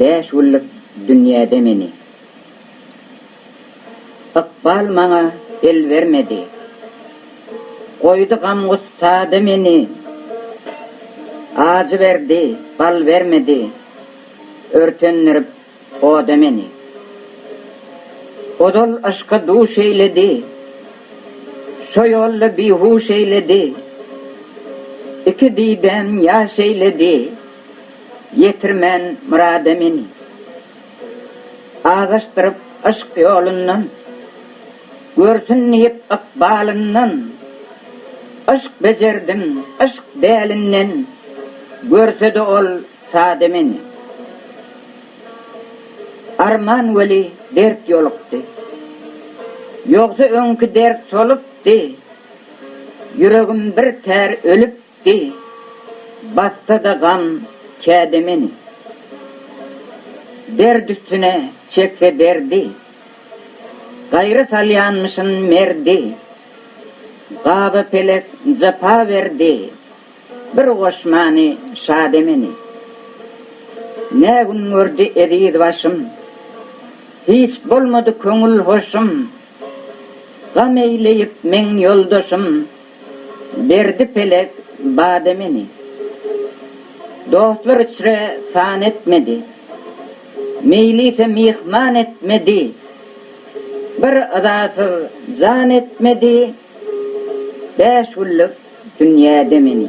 Bäş günlük dünýäde meni. Ykbal maňa el bermedi. Goýdy gam-gussada meni. Ajy berdi, bal bermedi. Örtendirip oda meni. Ozal yşka duş eýledi. Şo ýolda bihuş eýledi. Iki didäm ýaş eýledi. Ýetirmän myrada meni. Azaşdyryp yşk ýolundan. Görsün diýip ykbalyndan. Yşk bejerdim, yşk dälinden. Görse-de ol sada meni. Arman weli dert ýolukdy. Ýogsa öňki dert solupdy. Ýüregim bir tär ölüpdi. Eý, bassa-da gam käde meni. Derd üstüne çekse derdi. Gaýra salýanmyşyn merdi. Gaba pelek japa berdi. Bir goşmany şade meni. Nä gün gördi eziz başym. Hiç bolmady köňül hoşum. Gam eýleýip meň ýoldaşym. Berdi pelek bade meni. Dostlar içre san etmedi. Meýlise myhman etmedi. Bir yzasyz jan etmedi. Bäş günlük dünýäde meni.